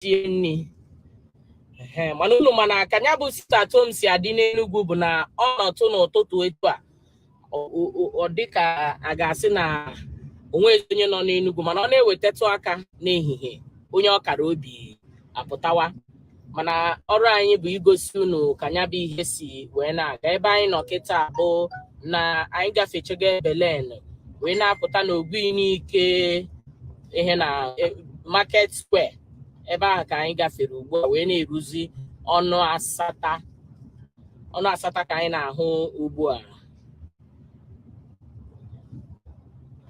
sie nri mana unu ma na ka nya bụ sit at home si adị n'enugwu bụ na ọ nọtụ n'ụtụtụ etu a ọ dị ka a ga-asị na o nwezi onye nọ n'enugwu mana ọ na-ewetatụ aka n'ehihie onye ọkara obi apụtawa mana ọrụ anyị bụ igosi unu ka nya bụ ihe si wee na-aga ebe anyị nọ kịta bụ na anyị gafechego ebe lane wee na-apụta n'ogbunike ihe na e, market square ebe ahụ ka anyị gafere ugbu a wee na-eruzi ọnụ asata ọnụ asata ka anyị na-ahụ ugbu a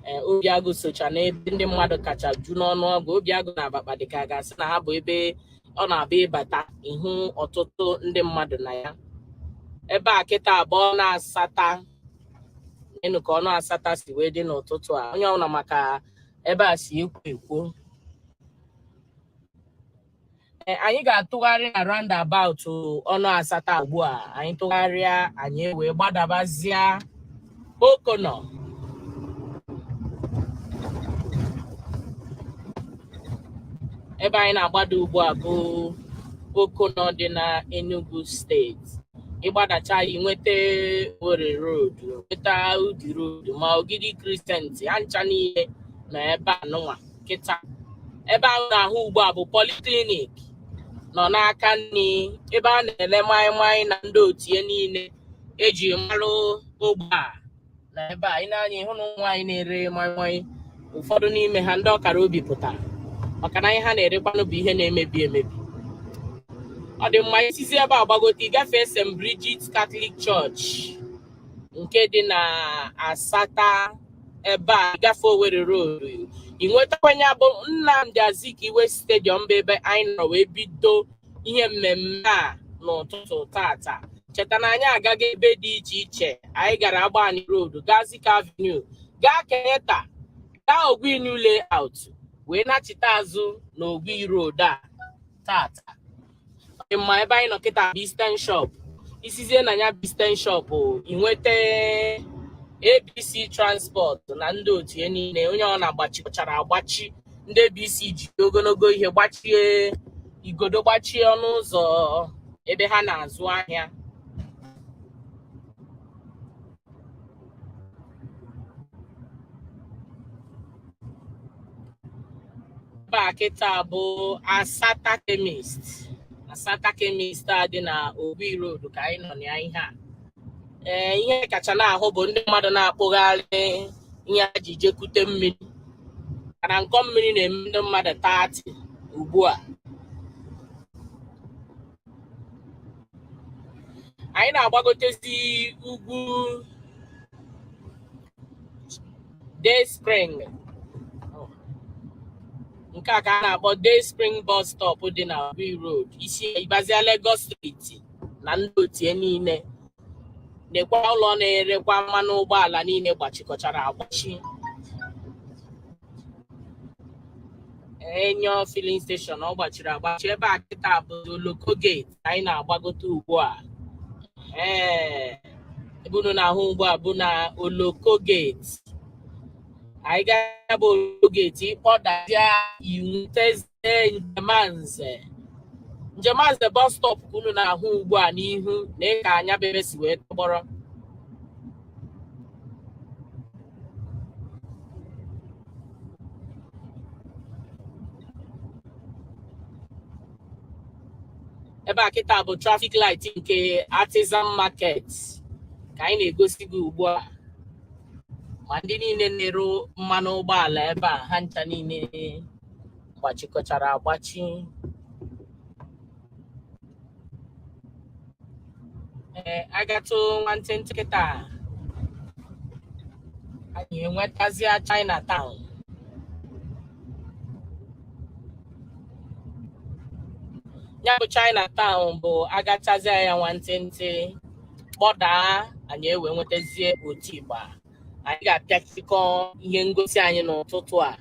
ee obiagụ socha n'ebe ndị mmadụ kacha ju n'ọnụ ọgụ obiagụ na abakpa dịka a ga-asị na ha bụ ebe ọ na-abụ ị bata ị hụ ọtụtụ ndị mmadụ na ya ebe a kịta bụ ọnụ asata neenu ka ọnụ asata si wee dị n'ụtụtụ a onye ọbụla ma ka ebe a si ekwo ekwo Ee, anyị ga-atụgharị na roundabout ọnụ asata ugbu a anyị tụgharịa anyị wee gbadabazịa O'Connor ebe anyị na-agbada ugbu a bụ O'Connor dị na Enugu steeti ị gbadacha ya nweta owerri road nweta udi road ma ogidi crescent ha ncha niile na ebe a nụnwa kịta ebe ahụ ị na-ahụ ugbu a bụ polyclinic nọ n'aka nri ebe a na-ele maịmaị na ndị otu ya niile e ji marụ ogbe a na ebe a ị nee anya ị hụ na ụmụ nwaanyị na-ere maịmaị ụfọdụ n'ime ha ndị ọkara obi pụtara maka na ihe ha na-erekwanụ bụ ihe na-emebi emebi ọ dị mma i sizi ebe a gbagote ị gafee St. Bridget Catholic Church nke dị na Asata ebe a ị gafee Owerri Road ị nwetakwa nya bụ Nnamdi Azikiwe stadium bụ ebe anyị nọ wee bido ihe mmemme a n'ụtụtụ taata cheta na anyị agago ebe dị iche iche anyị gara Agbani Road gaa Zik Avenue gaa Kenyatta gaa Ogui New Layout wee nachite azụ na Ogui Road a taata ma ebe anyị nọ kịta bụ Eastern Shop i sizie na nya bụ Eastern Shop i nweta ABC Transport na ndị otu ya niile onye ọbụna gbachikọchara agbachi ndị ABC ji ogologo ihe gbachie igodo gbachie ọnụ ụzọ ebe ha na-azụ ahịa ebe a kịta bụ Asata Chemist Asata Chemist a dị na Ogui Road ka anyị nọ na ya ihe a ee ihe kacha na-ahụ bụ ndị mmadụ na-akpụgharị ihe ha ji jekute mmiri mana ụkọ mmiri na-eme ndị mmadụ taata ugbu a anyị na-agbagotezi ugwu day spring nke a ka a na-akpọ day spring bus stop dị na Ogui road isi ịbazia Lagos street na ndị otie niile nekwa ụlọ na-erekwa mmanụ ụgbọala niile gbachikọchara agbachi enyo filling station ọ gbachiri agbachi ebe a kịta bụ oloko gate ka anyị na-agbagote ugbu a ee ebe unu na-ahụ ugbu a bụ na oloko geti anyị gaa bụ oloko geti ị kpọdazia ị nwetazie njemanze njemanze bọs stọp ka unu na-ahụ ugbu a n'ihu nekwa anya bụ ebe si wee tọgbọrọ ebe a kịta bụ traffic light nke artisan market ka anyị na-egosi gị ugbu a ma ndị niile na-ere mmanụ ụgbọala ebe a ha ncha niile gbachikọchara agbachi ee agatụ nwantịntị kịta anyị enwetazịa Chinatown ya bụ Chinatown bụ agachazịa ya nwantịntị kpọdaa anyị ewee nwetazie Otigba anyị ga-apịachikọ ihe ngosi anyị n'ụtụtụ a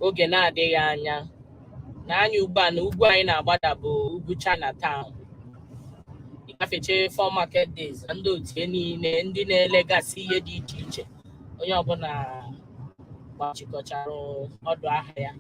oge na-adịghị anya nee anya ugbu a na ugwu anyị na-agbada bụ ugwu China Town ị gafechaa four market days na ndị otu ya niile ndị na-elegasị ihe dị iche iche onye ọbụla gbachikọchara ọdụ ahịa ya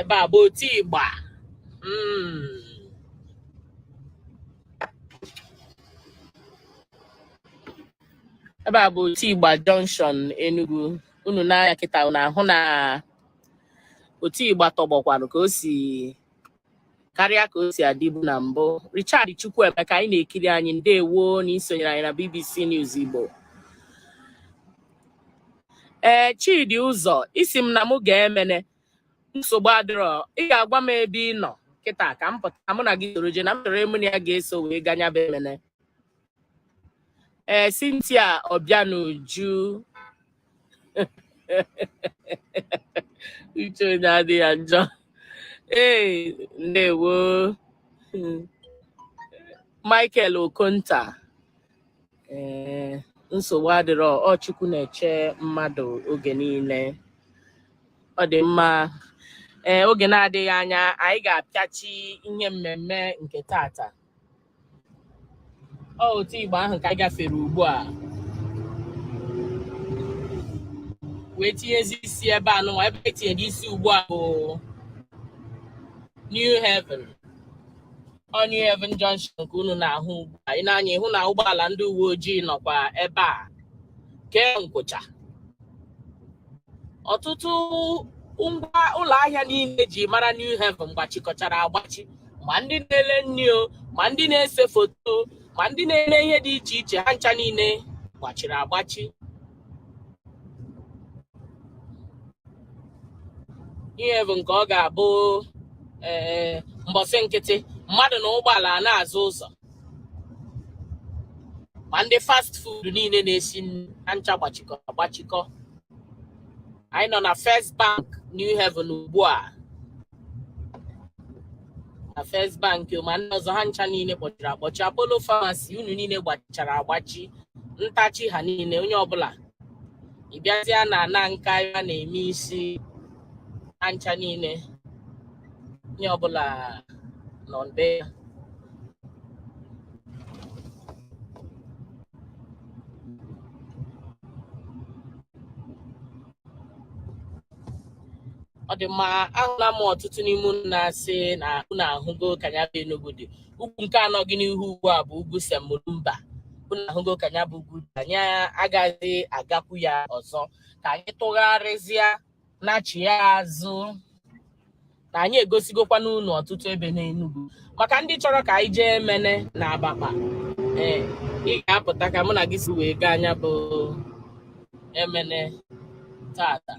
ebe a bụ Otigba mm. ebe a bụ Otigba junction Enugu unu nee anya kịta unu ahụ na Otigba tọgbọkwanụ ka o si karịa ka o si adịbu na mbụ Richard Chukwuemeka anyị na-ekiri anyị ndewo na i sonyere anyị na BBC News Igbo ee Chidi Ụzọ ị sị m na mụ gaa Emene nsogbu adịrọ ị ga-agwa m ebe ị nọ kịta ka m pụta mụ na gị soro je na m chọrọ onye mụ na ya ga-eso wee gaa nya bụ Emene ee eh, Cynthia Obianuju uche onye adị ya njọ ee eh, ndewo Michael Okonta ee eh, nsogbu adịrọ ọ Chukwu na-eche mmadụ oge niile ọ dị mma ee oge na-adịghị anya anyị ga-apịachi ihe mmemme nke tata ọ Otigba ahụ ka anyị gafere ugbu a wee tinyezi isi ebe a nụnwa ebe e tinyere isi ugbu a bụ New Haven ọ New Haven Junction ka unu na-ahụ ugbu a i nee anya ị hụ na ụgbọala ndị uwe ojii nọkwa ebe a kee nkwụcha ọtụtụ ngwa ụlọ ahịa niile e ji mara New Haven gbachikọchara agbachi ma ndị na-ele nri o ma ndị na-ese foto ma ndị na-eme ihe dị iche iche ha ncha niile gbachiri agbachi New Haven nke ọ ga-abụ ee eh, mbọsị nkịtị mmadụ na ụgbọala na-azọ ụzọ ma ndị fast food niile na-esi ha ncha gbachikọ agbachikọ anyị nọ na First Bank New Haven ugbu a na First Bank ma ndị ọzọ ha ncha niile kpọchiri akpọchi Apollo Pharmacy unu niile gbachara agbachi Ntachi ha niile onye ọbụla ị bịazịa na ana nka a na-eme isi ha ncha niile onye ọbụla nọ be ya ọ dị mma ahụla m ọtụtụ n'ime unu na-asị na unu ahụgo ka ya bụ Enugu dị ugwu nke a nọ gị n'ihu ugbu a bụ ugwu Saint Mulumba unu ahụgo ka ya bụ ugwu dị anyị agaghị agakwu ya ọzọ ka anyị tụgharịzịa nachịa azụ na anyị egosigokwanụ unu ọtụtụ ebe n'Enugu maka ndị chọrọ ka anyị jee Emene na Abakpa ee ị ga-apụta ka mụ na gị so wee gaa nya bụ Emene tata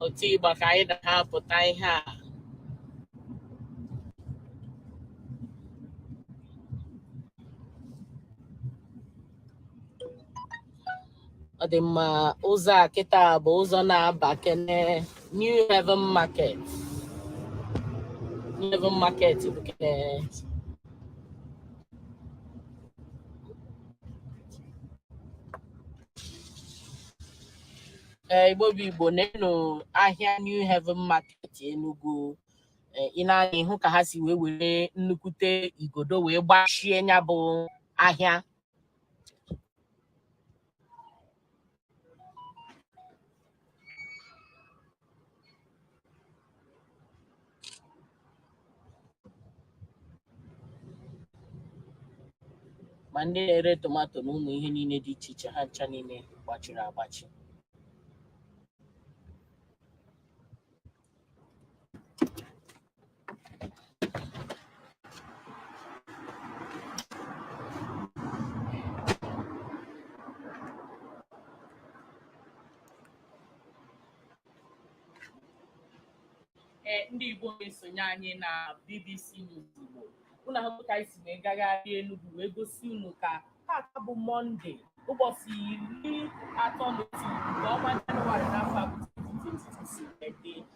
Otigba ka anyị na-apụta ihe a ọ dị mma ụzọ a kịta bụ ụzọ na-aba kene New Haven Market New Haven Market bụ kene ee Igbo bụ Igbo neenụ ahịa New Haven Market Enugu ị nee anya ị hụ ka ha si wee were nnukwute igodo wee gbachie ya bụ ahịa ma ndị na-ere tomato na ụmụ ihe niile dị iche iche ha ncha niile gbachiri agbachi ee ndị Igbo na-esonye anyị na BBC News Igbo unu ahụ ka anyị si wee gagharị Enugu wee gosi unu ka tata bụ Mọnde ụbọchị iri atọ na otu nke ọnwa Jenụwarị n'afọ 2022 si wee dị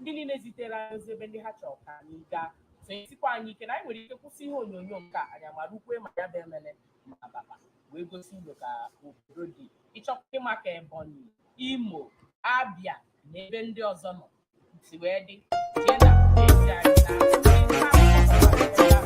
ndị niile zitere anyị ozi ebe ndị ha chọrọ ka anyị gaa so esikwa anyị ike na anyị nwere ike kwụsị ihe onyonyo nke a anyị amara ukwe ma ya bụ emele ma ababa wee gosi unu ka obodo dị ị chọọkwa ịma ka Ebonyi Imo Abịa na ebe ndị ọzọ nọ si wee dị jee na ezi anyị na